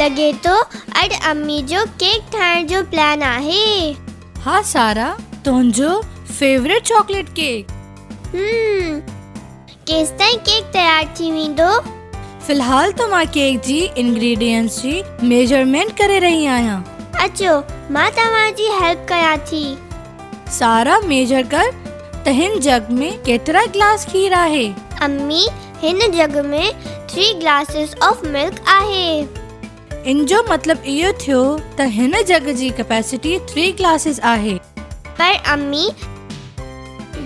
لڳي ٿو اڄ امي جو ڪيڪ ٺاهڻ جو پلان آهي. ها سارا تنهنجو فيورٽ چاڪليٽ ڪيڪ. هم ڪيستائين ڪيڪ تيار ٿي ويندو. في الحال ته مان ڪيڪ جي انگريڊينٽس جي ميجرمينٽ ڪري رهي آهيان. اچو مان توهان جي هيلپ ڪيان ٿي. سارا ميجر ڪر ته هن جڳ ۾ ڪيترا گلاس کير آهي؟ امي هن جڳ ۾ ٿري گلاسز آف ملڪ آهي. ان جو مطلب اهو ٿيو ته هن جڳ جي ڪپيسٽي ٿري گلاسز آهي. پر امي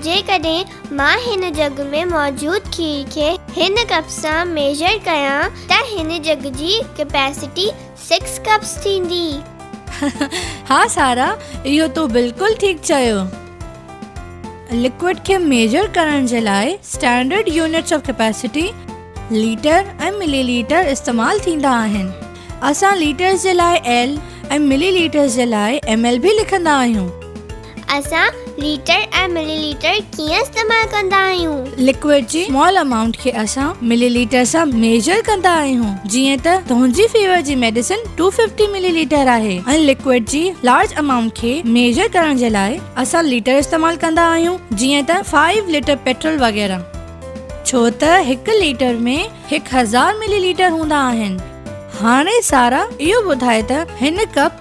جيڪڏهن مان هن جڳ ۾ موجود کير کي هن ڪپ سان ميجر ڪيان ته هن جڳ جي ڪپيسٽي سڪس ڪپس ٿيندي. ها سارا اهو تو بلڪل ٺيڪ چيو. لڪوئڊ کي ميجر ڪرڻ جي لاء standard units of capacity litre ۽ millilitre استعمال ٿيندا آهن. اسان ليٽرز جي لاء ايل ۽ ملي ليٽرز جي لاء ايم ايل به لکندا آهيون. اسان ليٽر ۽ ملي ليٽر ڪيئن استعمال ڪندا آهيون؟ لڪوئڊ جي سمال امائونٽ کي اسان ملي ليٽر سان ميجر ڪندا آهيون جيئن ته دونجي فيور جي medicine two fifty millilitre آهي ۽ لڪوئڊ جي لارج امائونٽ کي ميجر ڪرڻ جي لاء اسان ليٽر استعمال ڪندا آهيون جيئن ته فائيو ليٽر پيٽرول وغيره ڇو ته هڪ ليٽر ۾ هڪ هزار ملي ليٽر هوندا آهن. هاڻي سارا اهو ٻڌاء ته هن ڪپ.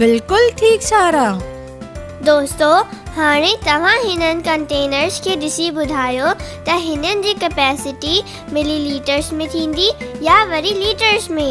بلڪل ٺيڪ سارا. دوستو هاڻي توهان هنن ڪنٽينرز کي ڏسي ٻڌايو ته هنن جي ڪپيسٽي ملي ليٽرز ۾ ٿيندي يا وري ليٽرز ۾.